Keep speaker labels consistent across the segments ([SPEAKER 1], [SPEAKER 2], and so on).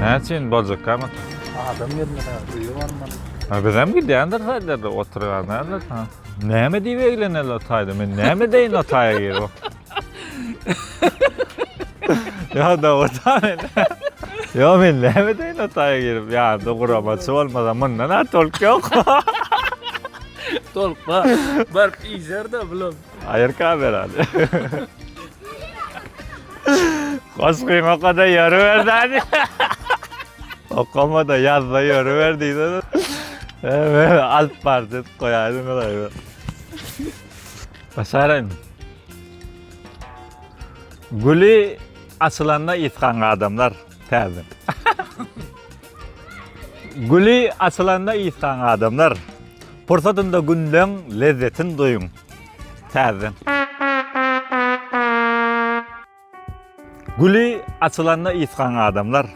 [SPEAKER 1] Näçe indi boljak kamata? Adam gelmedi
[SPEAKER 2] ha, öýe barmaly. Ha bizem gidýändir
[SPEAKER 1] taýlarda oturýanlardyr ha. Näme diýip egleneler taýda? Men näme deýin o taýa girip? Ýa-da orta men. Ýa men näme deýin otaya girip, ýa-da guramaçy bolmasa mundan ar tolk ýok.
[SPEAKER 2] Tolk bar. Bar iýer-de bulam. Aýyr kamera.
[SPEAKER 1] Goşgyň okada ýöri berdäni. Okamada ýazda ýöri ber diýdi. Alyp bar diýip goýaýdym. Başaraýmy? Güli açylanda ysgaň adamlar täzeden. Güli açylanda ysgaň adamlar. Pursatynda günleň lezzetin duýuň täzeden. Güli açylanda ysgaň adamlar,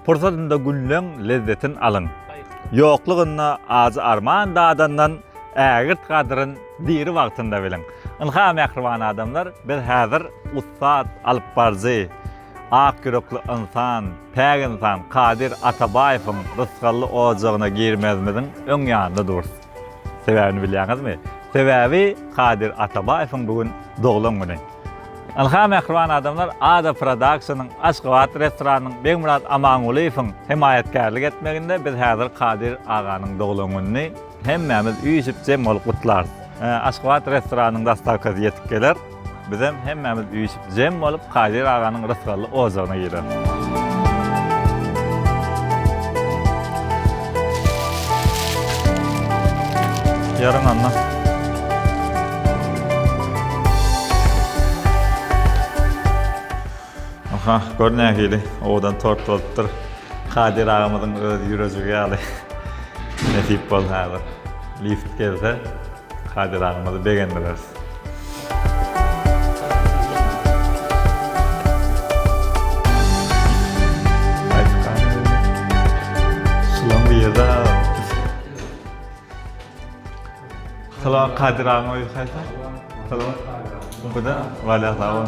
[SPEAKER 1] Pursatynda günleň lezzetin alyň. Ýoklugynda ajy-arman dadandan Ägirt gadryn diri wagtynda biliň. Ynha, mähriban adamlar, biz häzir ussat alypbaryjy, ak ýürekli ynsan, päk ynsan Kadyr Atabaýewiň rysgally ojagyna girmezimiziň öň ýanynda durus. Sebäbini bilýäňizmi? Sebäbi Kadyr Atabaýewiň bu gün doglan güni. Ynha mähriban adamlar Ada Production-yň Aşgabat restoranynyň Begmyrat Amangulyýewiň hemaýatkärlik etmeginde biz häzir Kadyr aganyň doglan gününi hemmämiz üýşüp jem bolup gutlarys. Aşgabat restoranynyň dastavkasy ýetip geler. Bizem hemmämiz üýşüp jem bolup Kadir aganyň rysgally ojagyna gireris. Yarın anla. Aha, gör nähili owadan tort bolupdyr. Kadyr agamyzyň öz ýürejigi ýaly. Nesip bolsa häzir lift gelse, Kadyr agymyzy begendireris. Salam Kadir agyň öýi haýsy? Salam. Bu da Waliýa sag bol.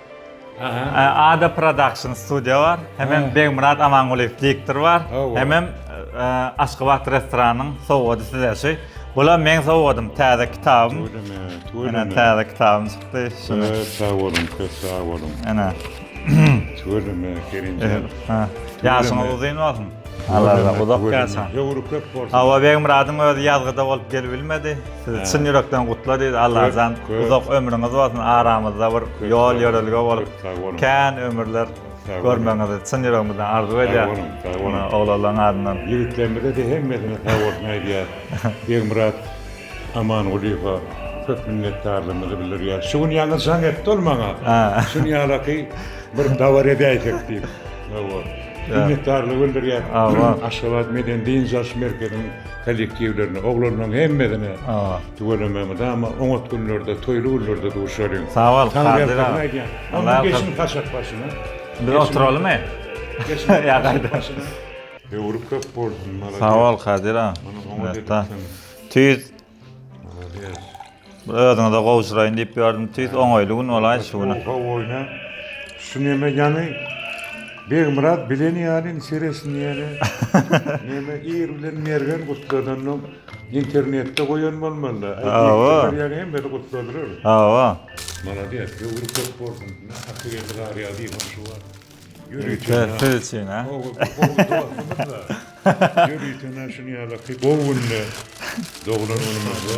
[SPEAKER 1] Ada production studio bar. Hemem Begmyrat Amangulyýew diktor bar. Hemem Aşgabat restoranyň sowgady size şu. Bula meň sowgadym täze kitabym. Ene täze kitabym çykdy. Şuny. Sag boluň, köp
[SPEAKER 3] sag boluň. Ene.
[SPEAKER 1] Tüweleme
[SPEAKER 3] Kerimjan. Ha.
[SPEAKER 1] Ýaşyňyz uzyn bolsun. Allah uzak ýaşa. Höwri köp bolsun. Hawa
[SPEAKER 3] Begmyradyň özi
[SPEAKER 1] ýazgyda bolup gelip bilmedi. Sizi çyn ýürekden gutladyz. Allajan uzak ömrüňiz bolsun, aramyzda bir ýol ýörelge bolup, kän ömürler görmegiňizi çyn ýüregimizden arzuw edýäs. Sag boluň, sag boluň. Oglanlaryň adyndan. Ýigitlerimize-de
[SPEAKER 3] hemmesine sag bolsun aýdýas. Begmyrat Amangulyýewe köp minnetdarlygymyzy bildirýäs. Şu gün ýaňy jaň etdi ol maňa. Şunýalaky bir dabara edäýsek diýip. Hawa. Minnetdarlygy bildirýäs. Aşgabat medeni-dynç alyş merkeziniň Kollektiwlerine, oglanlaryň hemmesine tüwelemegiňiz ama oňat günlerde, toýly günlerde duşalyň. Sag bol, Kadyr
[SPEAKER 1] aga. Onda geçiň
[SPEAKER 3] Haşak başyna. Biz oturalymy?
[SPEAKER 1] Geçiň Haşak başyna.
[SPEAKER 3] Höwri köp bolsun, malades. Sag bol, Kadyr
[SPEAKER 1] aga. Tüýs. Malades. Bir özüňize gowşuraýyn diýip ýördüm, tüýs oňaýly gün bolaýdy şu güne. Oho oýna.
[SPEAKER 3] Şu neme ýany Begmyrat bilen ýaly indi seretsin diýeli. Neme ir bilen mergen gutladandan internetde goýan bolmalyda. Hawa. Ýa
[SPEAKER 1] hemmesi gutladylar.
[SPEAKER 3] Hawa.
[SPEAKER 1] Maladýes,
[SPEAKER 3] ömri köp bolsun. Hakyky garýa diýen şu wagt. Ýörite siz üçin
[SPEAKER 1] ha. Gowy dostumyzda. Ýörite
[SPEAKER 3] şuny ýalaky gowy günde doglan günümizde.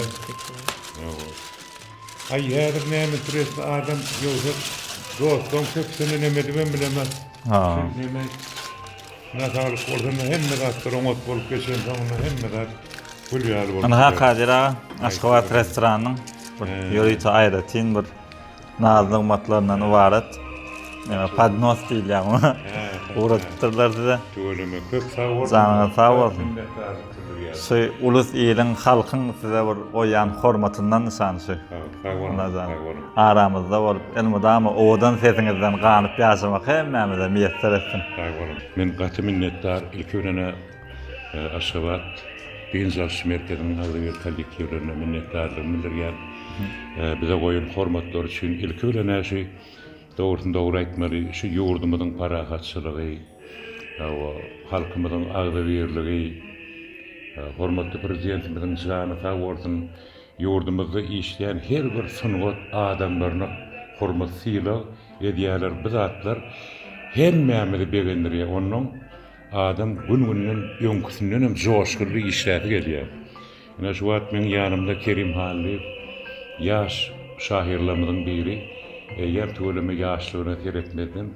[SPEAKER 3] Aý häzir näme stresli adam ýogsa dostlaň köpüsini neme edibem bilemok. Şuny neme nasaglyk bolsa hemme zatlar oňat bolup geçen soňunda hemme zat gül ýaly bolup gider. Ynha Kadyr aga
[SPEAKER 1] Aşgabat restoranynyň bir ýörite aýratyn bir Naz nygmatlaryndan ybarat e, podnos diýilýär muňa. Ugradypdyrlar size. Tüweleme köp sag
[SPEAKER 3] bol. Janyňyz sag bolsun. Şu ulus iliň
[SPEAKER 1] halkyň size bir goýýan hormatyndan nyşan şu. Sag boluň. Sag
[SPEAKER 3] boluň.
[SPEAKER 1] Aramyzda
[SPEAKER 3] bolup,
[SPEAKER 1] elmydama owadan sesiňizden ganyp ýaşamak hemmämize miýesser etsin. Sag boluň. Men
[SPEAKER 3] gaty minnetdar. Ilki bilen Aşgabat dynç alyş merkeziniň agzybir kollektiwlerine minnetdarlygymy bildirýän. Bize goýan hormatlary üçin ilki bilen äşi dogrusyny dogry aýtmaly şu ýurdumyzyň parahatçylygy we halkymyzyň agzybirligi hormatly prezidentimiziň jany sag bolsun ýurdumyzda işleýän her bir sungat adamlaryna hormat sylag edýärler bu zatlar hemmämizi begendirýär onnoň Adam gün-günden öňküsinden hem joşgunly işläsi gelýär. Ine şu wagt meň ýanymda Kerim Hallyýew, ýaş şahyrlarymyzyň biri. Eýýäm tüweleme ýaşlygyna seretmezden,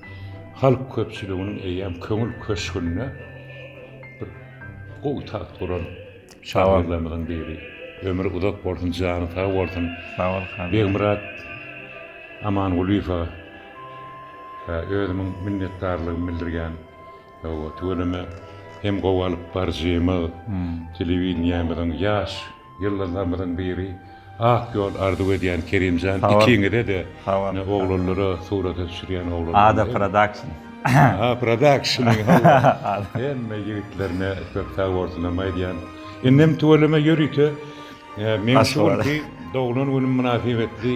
[SPEAKER 3] halk köpçüliginiň eýýäm köňül köşgünde bir gowy tagt guran şahyrlarymyzyň biri. Ömri uzak bolsun, jany sag bolsun. Sag bol, Hallyýew.
[SPEAKER 1] Begmyrat
[SPEAKER 3] Amangulyýewe özümiň minnetdarlygymy bildirýän. Hawa, tüweleme hem gowy alyp baryjymyz, telewideniýämiziň ýaş ýyldyzlarymyzyň biri, ak ýol arzuw edýän Kerimjan ikiňize-de, oglanlara, surata düşürýän oglanlara. Ada Production.
[SPEAKER 1] Aha,
[SPEAKER 3] Production, hemme ýigitlerine köp sag bolsunam aýdýan. Indem tüweleme ýörite, meň şu günki doglan günüm mynasybetli.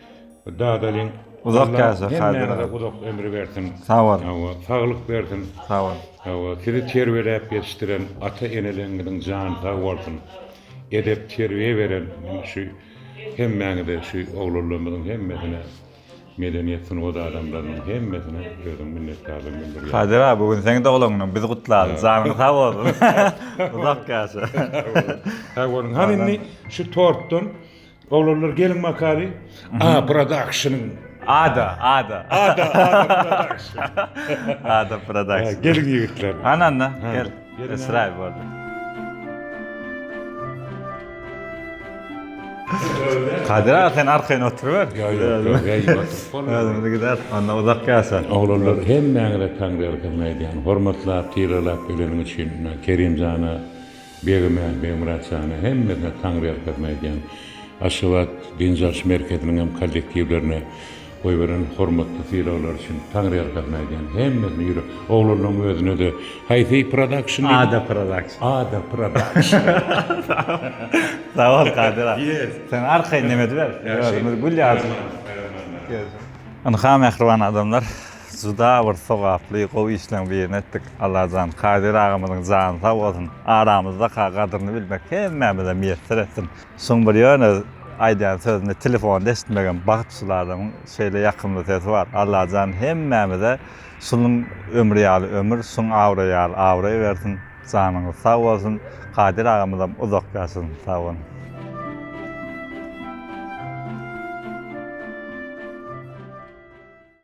[SPEAKER 3] Dadalyň uzak ýaşa
[SPEAKER 1] Haýdar uzak
[SPEAKER 3] ömür bersin. Sag bol. Hawa,
[SPEAKER 1] saglyk bersin.
[SPEAKER 3] Sag bol. Hawa,
[SPEAKER 1] sizi terbiýeläp
[SPEAKER 3] ýetişdiren ata-eneleriňiziň jany sag bolsun. Edep terbiýe beren şu hemmäňize şu oglanlarymyzyň hemmesine medeniýet sungat adamlarynyň hemmesine özüň minnetdarlygymy bildirýän. Haýdar aga bu gün seň
[SPEAKER 1] doglan günüň biz gutlaly. Janyň sag bolsun. Uzak ýaşa. Sag
[SPEAKER 3] boluň. Hany indi şu tortdan Oglanlar geliň makali A production-yň. Ada, ada.
[SPEAKER 1] Ada, ada production.
[SPEAKER 3] Ada
[SPEAKER 1] production. Geliň ýigitler.
[SPEAKER 3] Ana, ana, gel.
[SPEAKER 1] Esraýyl boldy. Kadir aga sen arkaýyn oturyber. Ýok, ýok, ýok, ýok. Özümiz gider, onda uzak ýasa. Oglanlar hemmäňize
[SPEAKER 3] taňrygylykmy aýdýan. Hormatlap, sylaglap geleniň üçin Kerimjana. Begime, Begmyrat jana hemmesine Taňryýalkasyny aýdýan. Aşgabat dynç alyş merkeziniň hem kollektiwlerine goýberen hormatly sylaglary üçin Taňryýalkasyny aýdýan. Hemmesine ýürek. Oglanlaryň özüne-de haýsy production diýdi? Ada production.
[SPEAKER 1] Ada production. Sag bol Kadyr aga. Ýes. Sen arkaýyn dem ediber. Özümiz gül ýaly. Ynha mähriban adamlar. Juda bir sogaply gowy işleň birini etdik Allajan Kadir agamyzyň jany sag bolsun aramyzdaka gadyryny bilmek hemmämize miýesser etsin şuň bir ýöne aýdýan sözüni telefonda eşitmegem bagt şul adamyň şeýle ýakymly sesi bar Allajan hemmämize şunuň ömri ýaly ömür şuň abraý ýaly abraý bersin janyňyz sag bolsun Kadir agamyzam uzak ýaşasyn sag boluň.